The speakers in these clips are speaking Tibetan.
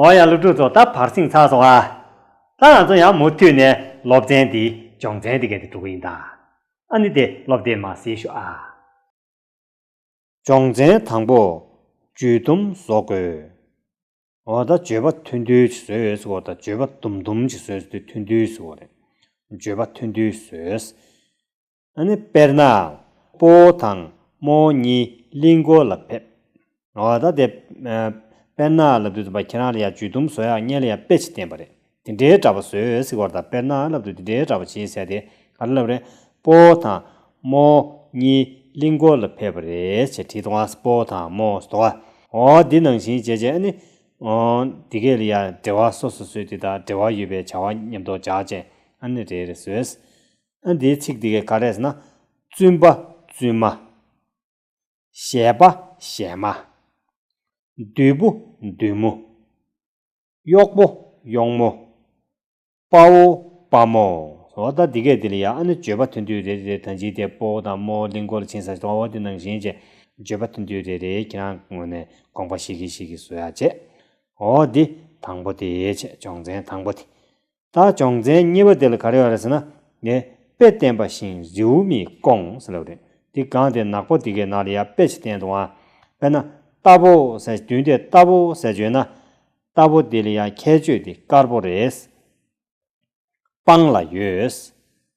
འོ་ཡང་སློབ་ཕྲུག་ཚོ་ད་བར་སིང་ཚགས་སོང་ཨ། ད་ང་ཚོ་ཡང་མུ་མཐུད་ནས་སློབ་ཚན་འདི་སྦྱོང་ཚན་འདི་ག་དེ་འགྲོ་གི་ཡིན་ད། ཨ་ནི་དེ་སློབ་དེབ་མ་ཟིན་ཤོག་ཨ། སྦྱོང་ཚན་དང་པོ། ཇུས་དུམ་བཟོ་དགོས། འོ་ད་ཇུས་པ་ཐུན་དུས་ཀྱི་བཟོས་གོ་ད་ཇུས་པ་དུམ་དུམ་གྱི་བཟོས་དུས་ཐུན་དུས་བཟོས་གོ་རེད། ཇུས་པ་ཐུན་དུས་བཟོས། དཔེར་ན། སྤོ་བོ་དང་རྨོ་བོ་གཉིས་གླིང་སྐོར་ལ་ཕེབས། དཔེར་ན། ལབ་དུས་དམ་པ་ཁྱེད་རང་ལ་ཡང་ཇུས་གཏུམ་བཟོ་ཡག་བརྙན་ལ་ཡང་དཔེ་ཆེ་བསྟན་པ་རེད། དེ་འདྲའི་གྲྭ་པ་བཟོས་ཟིག་བར་དང་དཔེར་ན་ལབ་དུས་དེ་འདྲའི་གྲྭ་པ་བྱེད་ཟེར་དེ་ག་རེ་ལབ་རེད། སྤོ་བོ་དང་རྨོ་བོ་གཉིས་གླིང་སྐོར་ལ་ཕེབས་པ་རེད་ཅེས་བྲིས་འདུག་ཨང་སྤོ་བོ་དང་རྨོ་བོ་ཟློ་བ། འོ་འདི་ནང་བཞིན་བྱས་བྱས་ཨ་ནི། འདི་གས་ལ་ཡང་འབྲེལ་བ་སོ་སོ་བཟོས་དེ་དང་འབྲེལ་བ་ཡོད་པའི་བྱ་བ་ཉམས་རྟོགས་བྱ་བྱས་ཨ་ནི་རེད་རེད་བཟོས། ཨ་འདིའི་ཚིག་འདི་ག་རེད་ཟེར་ན། བཙུན་པ་བཙུན་མ། གཞས་པ་གཞས་མ། བདུད་པོ་བདུད་མོ། གཡོག་པོ་གཡོག་མོ། དཔའ་བོ་དཔའ་མོ། འོ་ད་འདི་གས་འདི་ལ་ཡང་ཨ་ནི་བརྗོད་པ་མཐུན་དུས་རེད་རེད་ད་ཇི་སྟེ་དཔའ་བོ་དང་རྨོ་བོ་གླིང་སྐོར་ཕྱིན་ས་དཔའ་བོ་འདི་ནང་བཞིན་ཅེས་བརྗོད་པ་མཐུན་དུས་རེད་རེད་ཁྱེད་རང་ངོ་ནས་དགོངས་པ་ཞིག་གིས་ཞིག་གིས་བཟོ་ཡག་བྱས། འོ་འདི་དང་པོ་དེའི་ཆེད་སྦྱོང་ཚན་དང་པོ་དེ། ད་བྱང་ཚན་གཉིས་པ་དེ་ལ་ག་རེ་ཡོད་རེད་ཟེར་ན། ནས་དཔེ་བསྟན་པ་བཞིན་རེའུ་མིག་སྐོང་ཟེར་ལབ་རེད། འདི་གང་དེ་ནག་པོ་འདི་གའི་ནང་ལ་ཡར་དཔེ་ཆ་བསྟན་འདུག་ཨང། དཔེར་ན། རྟ་ཕོ་ཟེར་བདུན་དེ་རྟ་ཕོ་ཟེར་བརྗོད་ན། རྟ་ཕོ་འདི་ལ་ཡང་ཁྱད་ཆོས་འདི་དཀར་པོ་རེད། སྤང་ལ་ཡོད།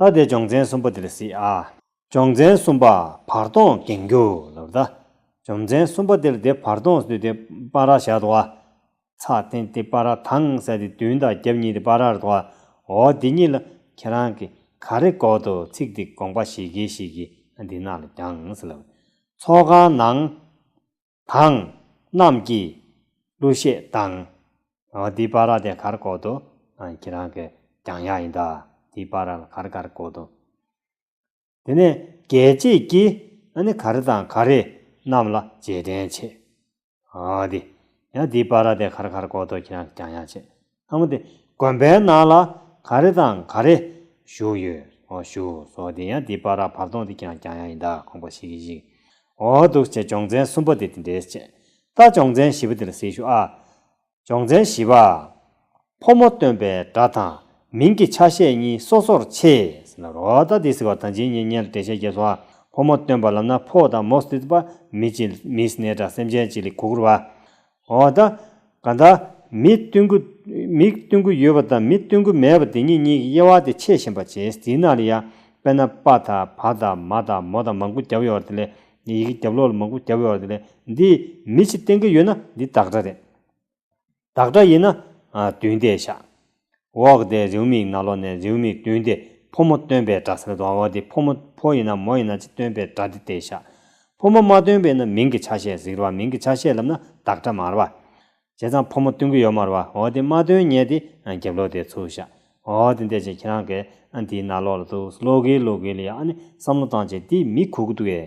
ཨ་དེ་སྦྱོང་ཚན་གསུམ་པོ་འདི་ལ་སྲིད་ཨ། སྦྱོང་ཚན་གསུམ་པ་བར་སྟོང་འགེངས་རྒྱུ་ལ་བརྡ། སྦྱོང་ཚན་གསུམ་པ་འདིར་དེ་བར་སྟོང་བསྡུས་ཏེ་པཱ་ར་བཞག་ཏུ་ཨ། ཚ་ཐན་ཏི་པཱ་ར་དང་སད་ཏི་བདུན་དང་རྒྱབ་གཉིས་ཏི་པཱ་རར་དུ་ཨ། འོ་འདི་གཉིས་ལ་ཁྱེད་རང་གིས་ག་རེ་གོ་འདུག་ཚིག་འདི་དགོངས་པ་ཞིག་གིས་ཞིག་གིས་འདི་རྣམས་ལ་རྒྱངས་སེ་ལབ། ཚོགས་ཁང་ནང། དང། རྣམས་ཀྱིས། གླུ་གཞས་དང། འདི་པར་ར་དེ་གར་གོ་དོ། ཁྱེད་རང་གི་གྱང་ཡག་ཡིན་ད། འདི་པར་ར་ལ་གར་གར་གོ་དོ། དེ་ནས་རྒྱལ་གཅེས་ཀྱིས། ག་རེ་དང་ག་རེ་རྣམས་ལ་རྗེས་དྲན་བྱེད། འདི། ཡང་འདི་པར་ར་དེ་གར་གར་གོ་དོ་ཁྱེད་རང་གི་གྱང་ཡག་བྱེད། ལྷ་མོ་དེ་དགོན་པའི་ནང་ལ་ག་རེ་དང་ག་རེ་བཞུགས་ཡོད་འོ་བཞུགས་སོ་དེ་ཡང་དེ་པར་ར་བར་སྟོང་དེ་ཀྱང་ཀྱང་ཡང་ཡིན་དཱ་ཁོང་པ་ཞིག་གིས་ཤིག་འོ་འདུག་ཅེས་སྦྱོང་ཚན་གསུམ་པ་དེ་དེ་འདྲའི་ཆེད་ད་སྦྱོང་ཚན་བཞི་པ་དེ་ལ་གཟིགས་ཞུ་ཨ། སྦྱོང་ཚན་བཞི་པ། ཕོ་མོ་སྟོན་པའི་སྒྲ་དང་མིང་གི་ཆ་ཤས་གཉིས་སོ་སོར་ཕྱེས་ཟེར་ན་རོ་ད་དེ་ཟེར་བ་དང་ཇི་སྙེད་སྙེད་ལ་འགྲེལ་བཤད་རྒྱས་སོ་ཨ། ཕོ་མོ་སྟོན་པ་ལབ་ན་ཕོ་དང་མོ་སྟི་ཏི་པ་མི་ཅི་མིས་སྣའི་སྒྲ་སེམས་ཅན་ཅི་ལི་གུ་གུར་བ། འོ་ད། ག་ད། མི་སྟོན་གུ། མི་སྟོན་གུ་ཡོད་པ་དང་མི་སྟོན་གུ་མེད་པ་དེ་གཉིས་གཉིས་ཀྱི་དབྱེ་བ་དེ་ཕྱེ་བཞིན་པ་ཇེ་ཟིན་ན་ལ་ཡ། དཔེར་ན་པ་དང་བ་དང་མ་དང་མོ་དང་མང་གུ་རྒྱབ་ཡོད་པ་དེ་ལས། ཡི་གེ་རྒྱབ་ལོག་ལ་མང་གུ་རྒྱབ་ཡོད་པ་དེ་ལས། འདི། མི་ཕྱི་སྟེང་གི་ཡོད་ན་འདི་བདག་སྒྲ་རེད། བདག་སྒྲ་ཡིན་ན། བདུན་བཟླས་བཞག། འོག་དེ་རེའུ་མིག་ནང་ལོགས་ནས་རེའུ་མིག་བདུན་ཏེ་ཕོ་མོ་སྟོན་པའི་སྒྲ་ཟེར་དོ་འོག་དེ་ཕོ་མོ་ཕོ་ཡིན་ན་མོ་ཡིན་ན་ཅི་སྟོན་པའི་སྒྲ་དེ་སྟེ་ཞག་ཕོ་མོ་མ་སྟོན་པས་ན་མིང་གི་ཆ་ཤས་གཟིགས་རོ་བ་མིང་གི་ཆ་ཤས་ལབ་ན་བདག་སྒྲ་མར་བ། བྱས་ཙང་ཕོ་མོ་སྟོན་གི་ཡོད་མར་བ་འོག་དེ་མ་སྟོན་ཉེས་ཏེ་རྒྱབ་ལོགས་དེ་ཚུར་ཞག་འོག་དེ་འདས་ཅིག་ཁྱེད་རང་གིས་འདིའི་ནང་ལོགས་ལ་ཟླུགས་ཟླུགས་གིས་ལོག་གིས་ལ་ཡང་ཨ་ནི་བསམ་བློ་བཏང་ཅིག་འདི་མི་གོ་གི་འདུག་གས།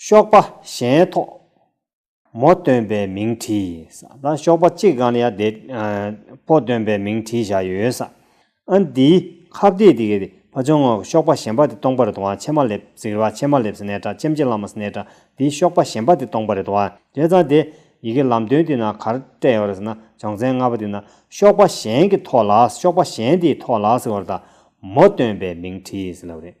གཤོག་པ་གཞན་ཐོག་མོ་སྟོན་པའི་མིང་བྲིས། ད་གཤོག་པ་གཅིག་གང་ཡང་དེ་པོ་སྟོན་པའི་མིང་བྲིས་བཞག་ཡོད། ཨ་འདི་ཁ་བརྡས་དེ་གས་པ་བྱུང་ངོ་གཤོག་པ་གཞན་པ་དེ་སྟོང་པ་རེད་དོ་ཨ་ཕྱེ་མ་ལེབ་ཟིག་རེད་བ་ཕྱེ་མ་ལེབ་ཟེར་ནས་དྲ་ཕྱེམ་ཕྱེ་ལ་མ་ཟེར་ནས་དྲ་འདི་གཤོག་པ་གཞན་པ་དེ་སྟོང་པ་རེད་དོ་ཨ་དེ་ཙང་དེ་ཡི་གེ་ལམ་སྟོན་དེ་ན་གར་སྤྲད་ཡོད་རེད་ཟེར་ན་བྱང་ཚན་ལྔ་པ་དེ་ན་གཤོག་པ་གཞན་གྱི་ཐོག་ལ་གཤོག་པ་གཞན་དེའི་ཐོག་ལ་ཟེར་བར་ད་མོ་སྟོན་པའི་མིང་བྲིས་ཟེར་ལབ་རེད།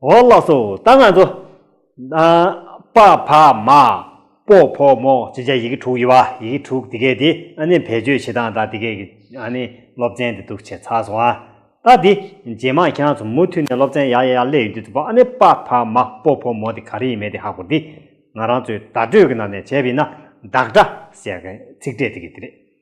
འོ་ལགས་སོ་ད་ང་ཚོ། པ་ཕ་མ། པོ་ཕོ་མོ་བཅས་བྱ་ཡི་གེ་དྲུག་ཡོད་པ་ཡི་གེ་དྲུག་དེ་གས་དེ་ཨ་ནི་བེད་སྤྱོད་བྱེད་སྟངས་དང་དེ་གས་ཀྱི་ཨ་ནི་སློབ་ཚན་དེ་འདུག་བྱས་ཚར་སོང་ཨ། ད་དེ་རྗེས་མ་ཁྱེད་རང་ཚོ་མུ་མཐུད་ནས་སློབ་ཚན་ཡག་ཡག་ཡག་སླེ་ཡོད་དུས་ཐུབ་པ་ཨ་ནི་པ་ཕ་མ་པོ་ཕོ་མོ་དེ་ག་རེ་ཡིན་མེད་དེ་ཧ་གོ་འདི་ང་རང་ཚོའི་བརྡ་སྤྲོད་ཀྱི་ནང་ནས་བྱས་པ་ཡིན་ན་བདག་སྒྲ་ཟེར་མཁན་ཚིག་འབྲས་དེ་གས་དེ་རེད།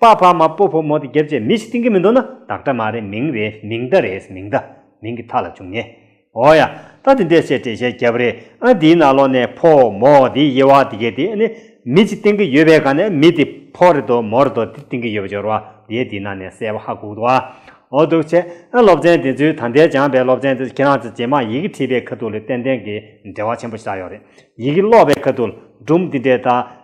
པ་ཕ་མ་སྤོ་ཕོ་མོ་དེ་རྒྱབ་བཅས་མི་ཞིག་བཏིང་གི་མི་འདུག་ན་བདག་སྒྲ་མ་རེད་མིང་རེད་མིང་བརྡ་རེད་མིང་བརྡ་མིང་གི་མཐའ་ལ་བྱུང་ངེས། འོ་ཡ། ད་དེ་འདྲས་བཤད་དྲེ་བཤད་རྒྱབ་རེད་ཨ་འདིའི་ནང་ལོག་ནས་ཕོ་མོ་དེའི་དབྱེ་བ་དེ་གས་དེ་ནི་མི་ཅིག་བཏིང་གི་ཡོད་པའི་གང་ནས་མི་དེ་ཕོ་རེད་དོ་མོ་རེད་དོ་དེ་བཏིང་གི་ཡོད་པ་སྦྱོར་བ་དེའི་དེའི་ནང་ནས་གསལ་བོ་ཧ་གོ་འདུག་ཨ་འོ་འདུག་ཆེ་ཨ་སློབ་ཚན་དེ་ཚོའི་ད་ལྟའི་སྦྱངས་པའི་སློབ་ཚན་དེ་ཚོ་ཁྱེད་རང་ཚོས་ཇེ་མང་ཡི་གེ་ཁྲིད་པའི་ཁ་ཐུག་ལས་ཏན་ཏན་གྱི་འབྲེལ་བ་ཆེན་པོ་ཞིག་ཆགས་ཡོད་རེད་ཡི་གེ་ཀློག་པའི་ཁ་ཐུག་ལ་སྒྲུང་འདི་འདྲའི་ད།